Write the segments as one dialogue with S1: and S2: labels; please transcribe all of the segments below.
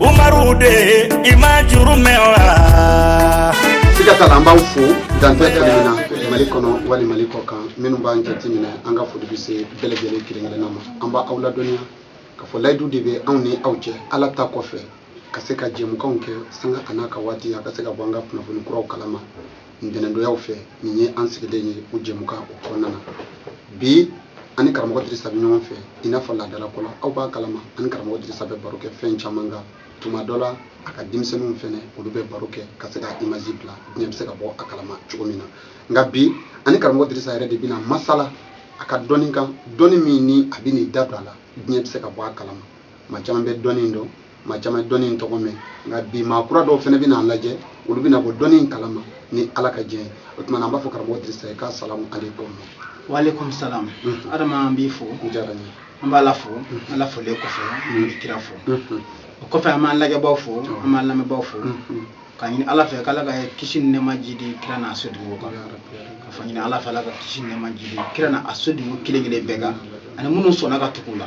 S1: umaru de i ma juru mɛn wa siga t'a la an b'aw fo dan tɛ kɛlɛ min na mali kɔnɔ wali mali kɔ kan minnu b'an jate minɛ an ka foli bɛ se bɛɛ lajɛlen kelen-kelenna ma an b'aw ladɔnniya k'a fɔ layidu de bɛ anw ni aw cɛ ala ta kɔfɛ ka se ka jɛmukanw kɛ sanga an'a ka waati a ka se ka bɔ an ka kunnafoni kuraw kalama ntɛnɛndonyaw fɛ nin ye an sigilen ye o jɛmukan o kɔnɔna na bi an ni karamɔgɔ dirisa bɛ ɲɔgɔn fɛ i n'a fɔ laadala ko la aw b'a kalama an ni karamɔgɔ dirisa bɛ baro kɛ fɛn caman kan tuma dɔ la a ka denmisɛnninw fɛnɛ olu bɛ baro kɛ ka se ka imazi bila diɲɛ bɛ se ka bɔ a kalama cogo min na nka bi an ni karamɔgɔ dirisa yɛrɛ de bɛna masala a ka dɔnni kan dɔnni min ni a bɛn'i da don a la diɲɛ bɛ se ka bɔ a kalama maa caman bɛ dɔnni dɔn maa caman ye dɔnni in tɔgɔ mɛn nka bi maa kura dɔw fɛnɛ bɛna an lajɛ olu bɛna bɔ dɔnni in kalama ni ala ka diɲɛ ye o tuma na an b'a fɔ karamɔgɔ dirisa ye k'asalamu aleykum waaleykum
S2: salamu adama n b'i fo a diyara n ye an
S1: b'ala fo
S2: ala folen kɔfɛ an bɛ kira fo o kɔfɛ an b'an lajɛbaw fo an b'an lamɛnbaw fo k'a ɲini ala fɛ k'ala ka kisi ni nɛɛma jiidi kira n'a sodenw kan ka fɔ ɲini ala fɛ ala ka kisi ni nɛɛma jiidi kira n'a a sodenw kelen kelen bɛɛ kan ani minnu sɔnna ka tugu u la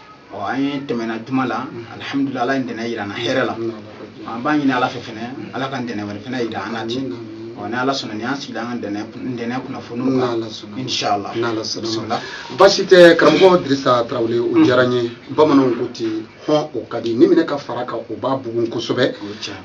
S2: ɔ an ye tɛmɛna juma la alihamudulila ala ye ntɛnɛ yira na hɛrɛ la an b'a ɲini ala fɛ fɛnɛ ala ka ntɛnɛ wɛrɛ fɛnɛ yira an na ten ɔ ni ala sɔnna ni an sigila an ka ntɛnɛ kunnafoniw kan inshala bisimila
S1: basi tɛ karamɔgɔ dirisa tarawele o mm. diyara n ye bamananw ko ten hɔn o ka di ni minɛ ka fara kan o b'a bugun kosɛbɛ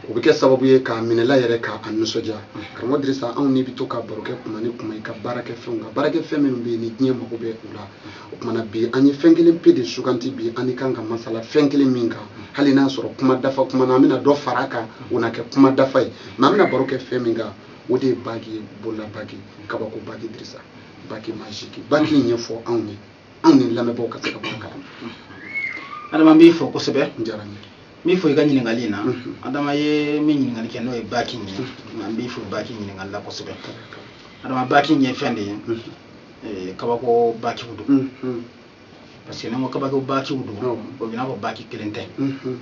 S1: o bɛ kɛ sababu ye k'a minɛla yɛrɛ k'a nisɔndiya mm. karamɔgɔ dirisa anw n'i bɛ to ka baro kɛ kuma ni kuma i ka baarakɛfɛnw kan baarakɛfɛn minnu bɛ yen ni diɲɛ mago bɛ u la mm. o kuma na bi an ye fɛn kelen pe de suganti bi an n'i kan ka masala fɛn kelen min kan hali n'a sɔrɔ kuma dafa kuma na an bɛna dɔ fara a kan o na kɛ kuma dafa ye mɛ an bɛna baro kɛ fɛn min kan o de ye baki ye bolola baki kabako baki dirisa baki majiki baki in ɲɛfɔ anw ye anw ni lamɛnbaaw ka se ka bɔ a
S2: kalama adama n b'i fo kosɛbɛ a diyara n ye
S1: min fɔ i
S2: ka ɲininkali in na mhm. adama ye min ɲininkali kɛ n'o ye baki in ye mhm. nka n b'i fo baki ɲininkali la kosɛbɛ adama baki in ye fɛn de ye mhm. eh, kabako bakiw don mm-hmm. parce que ne ko kabako bakiw don o b'i n'a fɔ baki kelen tɛ mm-hmm.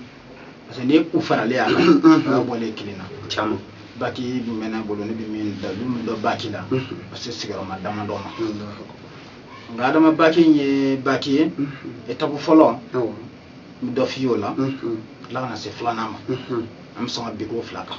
S2: parce que ni u faralen a kan mm-hmm. o bɔlen kelen na caman baki dun bɛ ne bolo ne bɛ min da don dɔ baki la parce que sigiyɔrɔma dama dɔ ma nka adama baki in ye baki ye etapu fɔlɔ n bɛ dɔ f'i ye o la tila ka na se filanan ma an bɛ sɔn ka bin ko fila kan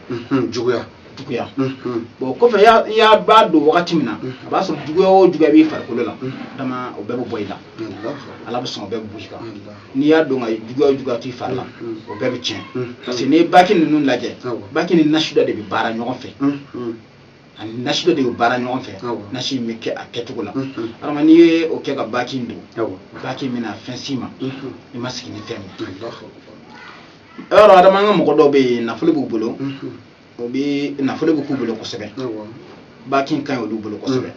S2: unhun, juguya juguya unhun, bon kɔfɛ i y'a- i y'a b'a don wagati min na a b'a sɔrɔ juguya o juguya b'i farikolo la adama o bɛɛ bɛ bɔ i la Allahu ala bɛ sɔn o bɛɛ bɛ bɔ i kan Akbar. n'i y'a don k'a ye juguya o juguya t'i fari la Mhm. o bɛɛ bɛ tiɲɛ Mhm. parce que n'i ye baki ninnu lajɛ Awɔ. baki ni nasi dɔ de bɛ baara ɲɔgɔn fɛ unhun, ani nasi dɔ de bɛ baara ɲɔgɔn fɛ Awɔ. nasi in bɛ kɛ a kɛcogo la Mhm. adama n'i ye o kɛ ka baki in don awɔ, baki in bɛna fɛn s'i ma unhun, i ma sigi ni fɛn min ye Allahu Akbar. yɔrɔ adama an ka mɔgɔ dɔw bɛ yen nafolo b'u bolo o bɛ nafolo b'u bolo kosɛbɛ baki in ka ɲi olu bolo kosɛbɛ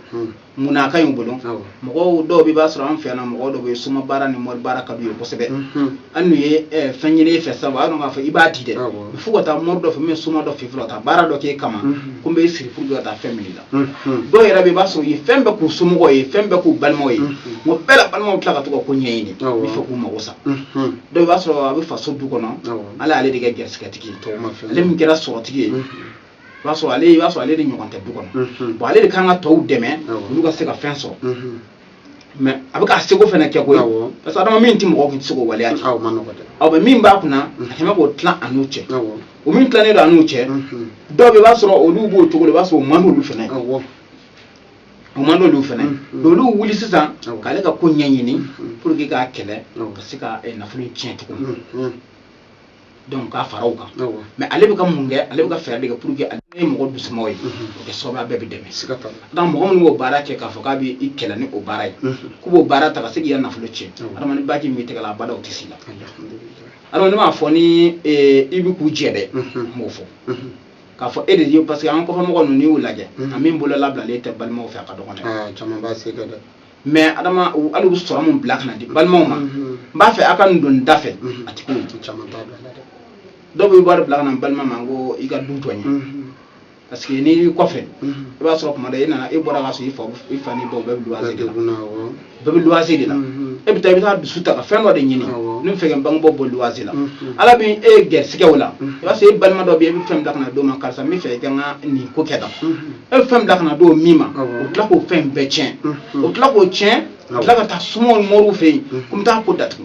S2: munna ka ɲi bolo mɔgɔ dɔw i b'a sɔrɔ an fɛ yan mɔgɔ dɔw bɛ soma baara ni mɔri baara ka d'u ye kosɛbɛ an n'u ye fɛn ɲini fɛ sabu an k'a fɔ i b'a di dɛ fo ka taa mori dɔ fɛ min soma dɔ fɛ fɔlɔ ka baara dɔ k'e kama ko n bɛ siri furu ka taa fɛn min la dɔw yɛrɛ i b'a sɔrɔ u ye fɛn bɛɛ k'u somɔgɔw ye fɛn bɛɛ k'u balimaw ye o bɛɛ la balimaw tila ka to ko ɲɛɲini fɛ k'u mago sa dɔw i b'a sɔrɔ a bɛ faso du kɔnɔ ala ale de kɛ garisigɛtigi ale min kɛra sɔrɔtigi ye b'a sɔrɔ ale i b'a sɔrɔ ale de ɲɔgɔn tɛ du kɔnɔ bon ale de kan ka tɔw dɛmɛ olu ka se ka fɛn sɔrɔ mais a b'a ka seko fana kɛ ko parce que adama min tɛ mɔgɔ tun tɛ se k'o waleya aw bɛ min b'a kun adama k'o tila a n'u cɛ o min tilanen don a n'u cɛ dɔw i b'a sɔrɔ olu b'o cogo i b'a sɔrɔ o man d'olu fana o man d'olu fɛnɛ olu wuli sisan k'ale ka ko ɲɛɲini pour que k'a kɛlɛ ka se ka eh, nafolo in tiɲɛ tugun donc k'a fara o kan mais ale bɛ ka mun kɛ ale bɛ ka fɛɛrɛ de kɛ pour que ale ye mɔgɔ dusuma ye o kɛ sababu ye a bɛɛ bɛ dɛmɛ siga t'a la donc mɔgɔ minnu b'o baara kɛ k'a fɔ k'a bɛ i kɛlɛ ni o baara ye k'u b'o baara ta ka se k'i ka nafolo tiɲɛ adama ni baki in b'i tɛgɛ la abada o tɛ s'i la alhamdulilayi adama ne m'a fɔ ni eh, i bɛ k'u jɛ dɛ n b'o fɔ k'a fɔ e de ye parce que an kɔfɛ mɔgɔ ninnu n'i y'u lajɛ a min bolo labilalen tɛ balimaw fɛ a ka dɔgɔn dɛ caman b'a se kɛ dɛ
S1: mais adama
S2: hali u sɔrɔ min bila ka na di balimaw ma n b'a fɛ a ka nin don da fɛ a ti k'o caman t'a
S1: bila dɛ dɔw bɛ
S2: wari bila ka na balima ma ko i ka du jɔ n ye parce que n'i y'i kɔfɛ i b'a sɔrɔ tuma dɔ e nana e bɔra ka sɔrɔ i fa n'i baw bɛɛ bɛ luwase bɛɛ bɛ luwase de la e bɛ taa i bɛ taa dusu ta ka fɛn dɔ de ɲini ne b'a fɛ ka n bangebaaw bɔ luwase la ala bɛ e garisigɛ o la i b'a sɔrɔ e balima dɔ bɛ yen e bɛ fɛn bila ka na d'o ma karisa n b'a fɛ i ka n ka nin ko kɛ tan e bɛ fɛn bila ka na d'o min ma o bɛ tila k'o fɛn bɛɛ tiɲɛ o bɛ tila k'o tiɲɛ ka tila ka taa somaw ni mɔriw fɛ yen ko n bɛ taa ko datugu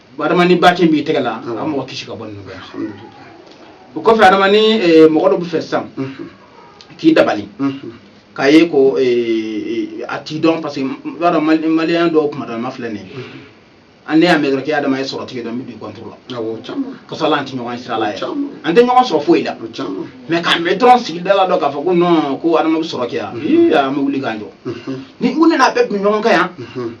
S2: adama ni baki in b'i tɛgɛ la a mɔgɔ kisi ka bɔ ninnu bɛɛ o kɔfɛ adama ni eh, mɔgɔ dɔ b'a fɛ sisan k'i dabali k'a ye ko eh, eh, a t'i dɔn parce que i b'a dɔn Mali- maliyɛn dɔw kuma dɔ ma filɛ nin ye an ne y'a mɛn dɔrɔn k'e adama ye sɔrɔtigi ye dɔrɔn n bɛ don i contre la awɔ caman ka sɔrɔ an tɛ ɲɔgɔn ye sira la yɛrɛ Caman. an tɛ ɲɔgɔn sɔrɔ foyi la o caman mais k'a mɛn dɔrɔn sigida la dɔrɔn k'a fɔ ko non ko adama bɛ sɔrɔ kɛ yan ii an bɛ wuli k'an jɔ ni u nana a bɛɛ tun bɛ ɲɔgɔn kan yan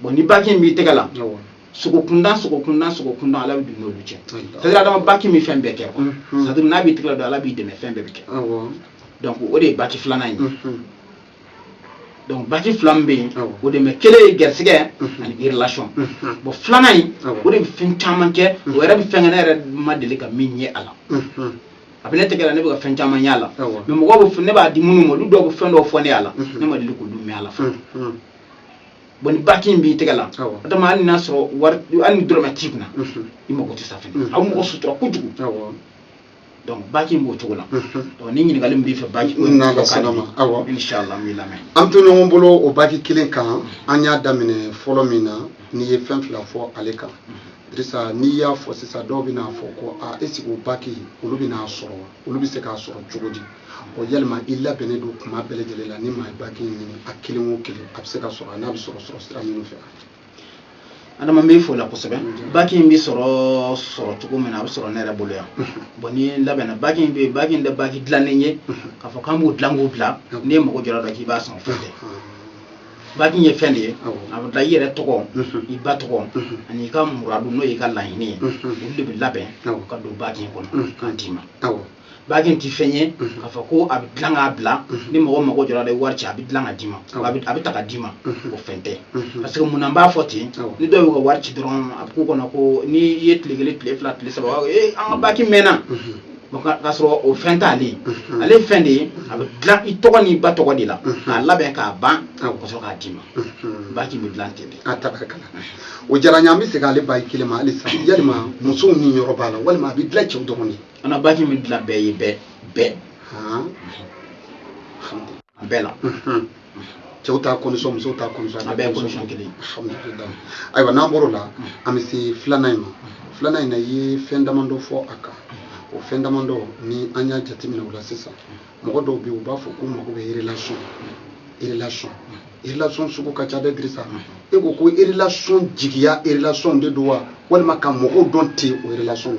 S2: bon ni baki in b'i tɛgɛ la sogo kundan sogo kundan sogo kundan ala bɛ don n'olu cɛ c'est à dire adama baki in bɛ fɛn bɛɛ kɛ quoi Mhm. c'est à dire n'a b'i tɛgɛ la don ala b'i dɛmɛ fɛn bɛɛ bɛ kɛ awɔ donc o de ye baki filanan ye Mhm. donc baki fila min bɛ yen Awɔ. o de mɛ kelen ye gɛrisigɛ Mhm. ani relation Mhm. bon filanan in Awɔ. o de bɛ fɛn caman kɛ o yɛrɛ bɛ fɛn kɛ ne yɛrɛ ma deli ka min ye a la Mhm. a bɛ ne tɛgɛ la ne bɛ ka fɛn caman y'a la Awɔ. mais mɔgɔw bɛ fɛn- ne b'a di minnu ma olu dɔw bɛ fɛn dɔw fɔ ne y'a la Mhm. ne ma deli k'olu mɛn a la fɔlɔ Mhm. bon ni baki in b'i tɛgɛ la Awɔ. o tuma hali n'a sɔrɔ wari hali ni dɔrɔmɛ t'i kunna Mhm. i mago tɛ sa fɛnɛ Mhm. a bɛ mɔgɔ sutura kojugu Awɔ. donc baki in b'o cogo la Mhm. donc ni ɲininkali min b'i fɛ baki ko in N'Ala fɔ ka sɔnna di. ma, awɔ. inchallah n b'i lamɛn an to ɲɔgɔn
S1: bolo o baki kelen kan an y'a daminɛ fɔlɔ min na n'i ye fɛn fila fɔ ale kan dirisa n'i y'a fɔ sisan dɔw bɛn'a fɔ ko a est-ce que o baki olu bɛn'a sɔrɔ wa olu bɛ se k'a sɔrɔ cogo di o yalima i labɛnnen don kuma bɛɛ lajɛlen la ni maa ye baki ɲini a kelen o kelen a bɛ se ka sɔrɔ a n'a bɛ sɔrɔ sɔrɔ sira minnu
S2: fɛ adama n b'i fo la kosɛbɛ baki in bɛ sɔrɔ sɔrɔ cogo min na a bɛ sɔrɔ ne yɛrɛ bolo yan bon ni labɛnna baki in bɛ yen baki in tɛ baki dilannen ye k'a fɔ k'an b'o dilan k'o bila n'i ye mago jɔra dɔ k'i b'a san o fɛn tɛ baki in ye fɛn de ye a bɛ dilan i yɛrɛ tɔgɔ i ba tɔgɔ ani i ka muradu n'o y'i ka laɲini ye olu de bɛ labɛn ka don baki in kɔnɔ k'a d'i ma baki in tɛ fɛn ye k'a fɔ ko a bɛ dilan k'a bila ni mɔgɔ mago jɔra la wari ci a bɛ dilan ka d'i ma a bɛ ta ka d'i ma o fɛn tɛ parce que mun na n b'a fɔ ten ni dɔw y'u ka wari ci dɔrɔn a bɛ k'u kɔnɔ ko n'i ye tile kelen tile fila tile saba ee an ka baki mɛnna k'a sɔrɔ o fɛn t'ale ye ale ye fɛn de ye a bɛ dilan i tɔgɔ n'i ba tɔgɔ de la k'a labɛn k'a ban ka sɔrɔ k'a d'i ma baki bɛ dilan ten de a tabarakala
S1: o diyara n ye an bɛ segin ale baki kelen ma halisa yalima musow niyɔrɔ b'a la walima a bɛ dilan cɛw dɔrɔn de an ka baki bɛ dilan
S2: bɛɛ ye bɛɛ bɛɛ a bɛɛ la
S1: cɛw ta condition musow ta condition a bɛɛ
S2: condition
S1: kelen ayiwa n'an bɔr'o la an bɛ se filanan in ma filanan in na i ye fɛn damadɔ fɔ a kan o fɛn damadɔ ni an y'a jateminɛ o la sisan mɔgɔ dɔw bɛ yen u b'a fɔ k'u mago bɛ relation relation relation sugu ka ca dɛ Dirisa e ko ko relation jigiya relation de don wa walima ka mɔgɔw dɔn ten o relation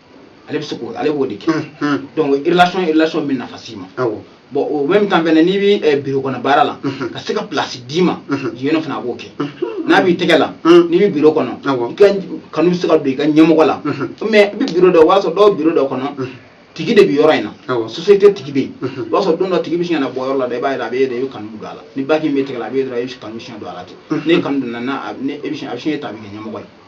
S1: ale
S2: bɛ se k'o ale b'o de kɛ Unhun. donc relation relation bɛ nafa s'i ma Awɔ. bon au même temps fɛnɛ n'i bɛ eh, biro kɔnɔ baara la Unhun. ka se ka place d'i ma Unhun. yen nɔ fana a b'o kɛ Unhun. n'a b'i tɛgɛ la Unhun. n'i bɛ biro kɔnɔ Awɔ. i ka kanu bɛ se ka don i ka ɲɛmɔgɔ la Unhun. mais i bɛ biro dɔ o b'a sɔrɔ dɔw biro dɔ kɔnɔ Unhun. tigi de bɛ yɔrɔ in na Awɔ. société tigi bɛ yen Unhun. i b'a sɔrɔ don dɔ tigi bɛ sin ka na bɔ yɔrɔ la dɛ i b'a ye a bɛ e de i bɛ kanu don a la ni baki in b'i tɛgɛ la a bɛ e dɔrɔn i kanu bɛ sin don a la ten Unhun. n'e kanu donna n'a a bɛ ne e bɛ sin a bɛ sin e ta a bɛ kɛ ɲɛmɔgɔ ye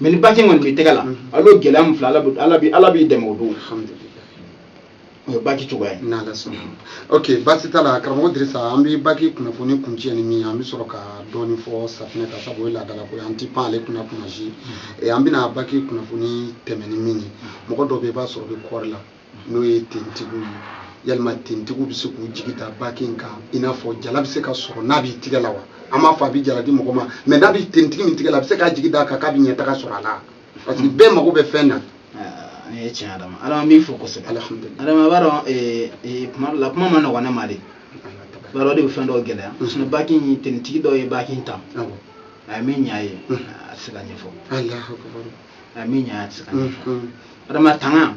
S2: mɛ ni baki kɔni b'i tɛgɛ la ale y'o gɛlɛya min fila ala b'i dɛmɛ o don alhamdulillah o ye baki cogoya ye n'ala sɔnna
S1: ok baasi t'a la karamɔgɔ dirisa an bɛ baki kunnafoni kuncɛ ni min an bɛ sɔrɔ ka dɔɔni fɔ safinɛ kan sabu o ye laadala ko ye an ti pan ale kunna kuma si an bɛna baki kunnafoni tɛmɛ ni min ye mɔgɔ dɔ bɛ i b'a sɔrɔ bɛ kɔɔri la n'o ye tentigiw ye yalima tentigiw bɛ se k'u jigi da baki in kan i n'a fɔ jala bɛ se ka sɔrɔ n'a b'i tigɛ la wa an m'a fɔ a bɛ jala di mɔgɔ ma mɛ n'a bɛ tentigi min tigɛ la a bɛ se k'a jigi da a kan k'a bɛ ɲɛtaga sɔrɔ a la parce que bɛɛ mago bɛ fɛn na o
S2: ye tiɲɛ adama ala an b'i fo kosɛbɛ adama
S1: b'a
S2: dɔn eh, eh, kuma dɔ la kuma man nɔgɔn ne ma de b'a dɔn de bɛ fɛn dɔw gɛlɛya sinɔn baki in tentigi dɔw ye baki in ta a ye min ɲa ye a tɛ se ka ɲɛfɔ
S1: a min ɲa tɛ se
S2: ka adama tanga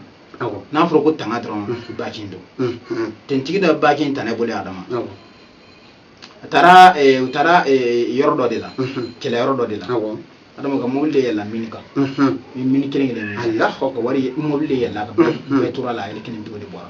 S2: n'a fɔra ko tanga dɔrɔn baki in don tentigi dɔ baki in ta ne bolo adama a taara u taara yɔrɔ dɔ de la kɛlɛ yɔrɔ dɔ de la adama ka mobili de yɛlɛla mini kan ni mini kelen kelen a la ka wari mobili de yɛlɛla a kan bɛɛ tora a la a yɛrɛ kelen to de bɔra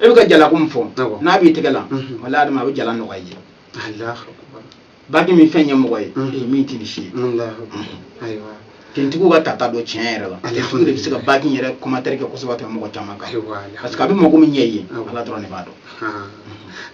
S2: e bɛ ka jalako min fɔ Awɔ. n'a b'i tɛgɛ la Mhm. wala adama a bɛ jala nɔgɔya i ye Allahu akbar. baki bɛ fɛn ɲɛ mɔgɔ ye Mhm. ee, min tɛ nin si ye Allahu akbar. Ayiwa. tentigiw ka tata don tiɲɛ yɛrɛ la Alhamdulillah. tentigiw de bɛ se ka baki in yɛrɛ commentaire kɛ kosɛbɛ ka tɛmɛ mɔgɔ caman kan Ayiwa, alhamdulillah. parce que a bɛ mago min ɲɛ i ye Awɔ. ala dɔrɔn de b'a dɔn Haa.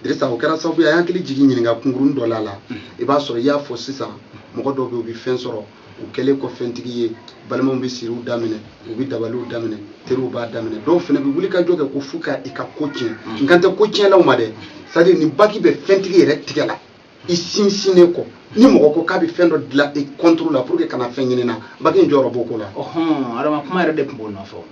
S2: Dirisa o kɛra sababu ye a y'an hakili jigin ɲininka kunkuruni dɔ la a la i b'a sɔrɔ i y'a fɔ sisan mɔgɔ dɔw bɛ yen u bɛ fɛn sɔrɔ u kɛlen kɔ fɛntigi ye balimaw bɛ siriw daminɛ u bɛ dabaliw daminɛ teriw b'a daminɛ dɔw fana bɛ wuli ka jɔ kɛ ko fo ka i ka ko tiɲɛ n kan tɛ ko tiɲɛlaw ma dɛ c'est-à-dire ni baki bɛ fɛntigi yɛrɛ tigɛ la i sinsinnen kɔ ni mɔgɔ ko k'a bɛ fɛn dɔ dilan i contre la pour que kana fɛn ɲini na baki in jɔyɔrɔ b'o ko la ɔhɔn adama kuma yɛrɛ de tun b'o nɔfɛ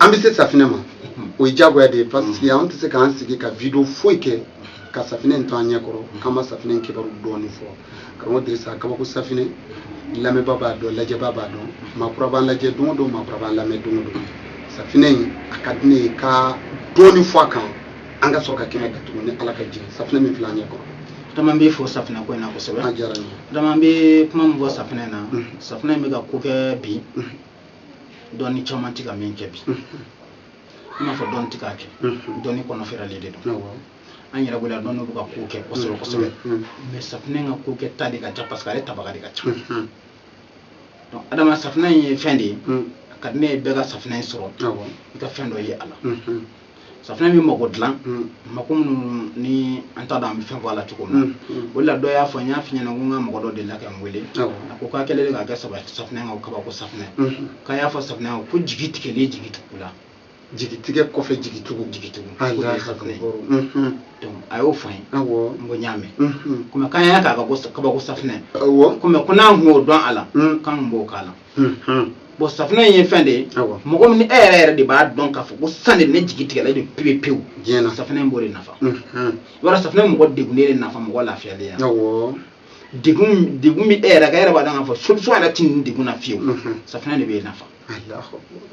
S2: an bɛ se safinɛ ma o ye diyagoya de ye parce que an tɛ se k'an sigi ka video foyi kɛ ka safinɛ in to an ɲɛ kɔrɔ k'an ma safinɛ in kibaru dɔɔni fɔ karamɔgɔ dirisa kabako safinɛ lamɛnba b'a dɔn lajɛba b'a dɔn maakura b'an lajɛ don o don maakura b'an lamɛn don o don safinɛ in a ka di ne ye ka dɔɔni fɔ a kan an ka sɔrɔ ka kɛnɛ datugu ni ala ka jɛ safinɛ min filɛ an ɲɛ kɔrɔ adama n bɛ fɔ safinɛ ko in na kosɛbɛ adama n bɛ kuma min fɔ safinɛ na safinɛ in bɛ ka ko kɛ bi dɔnni caman tɛ ka min kɛ bi n m'a fɔ dɔnni tɛ k'a kɛ dɔnni kɔnɔ fɛɛrɛlen de don an yɛrɛ bolo yan dɔnni bɛ ka ko kɛ kosɛbɛ kosɛbɛ mɛ safinɛ ka kokɛta de ka ca parce que ale tabaga de ka ca donc adama safinɛ in ye fɛn de ye a ka di ne ye bɛɛ ka safinɛ in sɔrɔ i ka fɛn dɔ ye a la safinɛ bɛ mako dilan mako minnu ni an t'a dɔn an bɛ fɛn fɔ a la cogo min na o la dɔ y'a fɔ n y'a f'i ɲɛna ko n ka mɔgɔ dɔ delila ka n wele a ko k'a kɛlen k'a kɛ safinɛ kan o kabako safinɛ k'a y'a fɔ safinɛ kan ko jigi tigɛlen jigitugula
S1: jigi tigɛ kɔfɛ jigi tugu jigi tugu o de ye
S2: safinɛ ye donc a y'o fɔ n ye n ko n y'a mɛn komi k'an y'a k'a ka ko kabako safinɛ komi ko n'an kun y'o dɔn a la k'an kun b'o k'a la unhun, bon safinɛ in ye fɛn de ye awa mɔgɔ min ni e yɛrɛ yɛrɛ de b'a dɔn k'a fɔ ko san de ne jigi tigɛlen don pewu pewu diɲɛ na safinɛ in b'o de nafa unhun, voilà safinɛ in mɔgɔ degunnen de nafa mɔgɔ lafiyalen ya awɔ degun min bɛ e yɛrɛ kan e yɛrɛ b'a dɔn k'a fɔ solution yɛrɛ tɛ nin degun na fiyewu unhun, safinɛ de b'e nafa Alahu akibaru.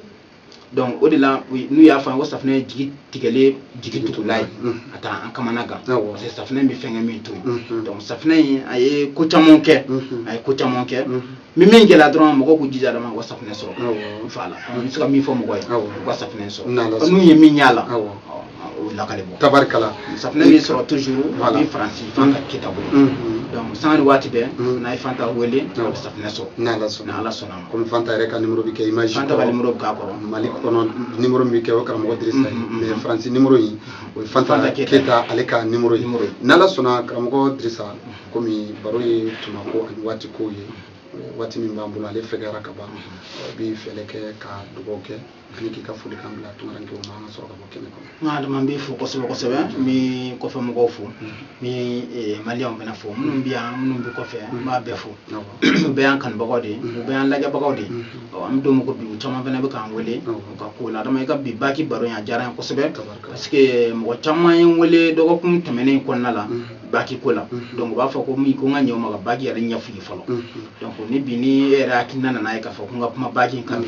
S2: donc o de la n'u y'a fɔ an ko safunɛ ye jigi tigɛlen jigi tugula ye a tɛ an kamana gan parce que safunɛ bɛ fɛnkɛ min to yen donc safunɛ in a ye ko caman kɛ a ye ko caman kɛ ni min gɛlɛya dɔrɔn mɔgɔw k'u jija dama u ka safunɛ sɔrɔ voilà n bɛ se ka min fɔ mɔgɔ ye u ka safunɛ sɔrɔ n'u ye min y'a la tabarikala safinɛ
S1: bɛ sɔrɔ
S2: toujours a bɛ faransi fanta keyita bolo sanga ni waati bɛɛ n'a ye fanta wele a bɛ safunɛ sɔrɔ n' ala sɔnna kɔmi fanta yɛrɛ ka nimoro bɛ
S1: kɛ image fanta ka nimoro
S2: bɛ k'a kɔrɔ mali kɔnɔ
S1: nimoro min bɛ kɛ o karamɔgɔ dirisa ye mais faransi nimoro in o ye fanta keyita ale ka nimoro ye n' ala sɔnna karamɔgɔ dirisa kɔmi baro ye tuma ko ani waati ko ye waati min b'an bolo ale fɛ ka ban i bɛ foli kɛ ka dugawu kɛ ani k'i ka foli kan bila tunkarankɛw ma an ka sɔrɔ ka bɔ kɛnɛ kɔnɔ n ka adama n b'i fo
S2: kosɛbɛ kosɛbɛ n bɛ kɔfɛ mɔgɔw fo n bɛ maliyɛnw fana fo minnu bɛ yan minnu bɛ kɔfɛ n b'a bɛɛ fo u bɛɛ y'an kanubagaw de ye u bɛɛ y'an lajɛbagaw de ye an bɛ don min ko bi u caman fana bɛ k'an wele u ka ko la adama i ka bi baki baro in a diyara n ye kosɛbɛ parce que mɔgɔ caman ye n wele dɔgɔkun tɛmɛnen kɔnɔna la baki ko la donc u b'a fɔ ko min ko n ka ɲɛ o ma ka baki yɛrɛ ɲɛf'u ye fɔlɔ donc ni bi ni e yɛrɛ hakilina nana ye k'a fɔ ko n ka kuma baki in kan bi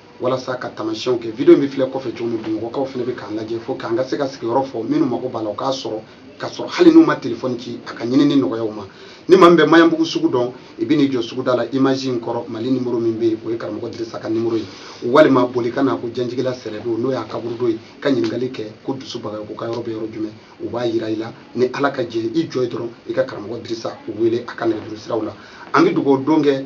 S1: walasa ka tamasiyɛnw kɛ video bɛ filɛ kɔfɛ cogo min bamakɔkaw fana bɛ k'an lajɛ fo k'an ka se ka sigiyɔrɔ fɔ minnu mago b'a la o k'a sɔrɔ ka sɔrɔ hali n'u ma telefɔni ci a ka ɲinini nɔgɔya u ma ni maa min bɛ maɲanbugu sugu dɔn i bɛ n'i jɔ suguda la image in kɔrɔ mali nimoro min bɛ yen o ye karamɔgɔ dirisa ka nimoro ye walima boli ka na ko janjigila sɛrɛdo n'o ye kaburudo ye ka ɲininkali kɛ ko dusu bagayoko ka yɔrɔ bɛ yɔrɔ jumɛn u b'a yira i la ni ala ka jɛ i jɔ yen dɔrɔn i ka karamɔgɔ dirisa wele a ka nɛgɛjuru siraw la an bɛ dugawu don kɛ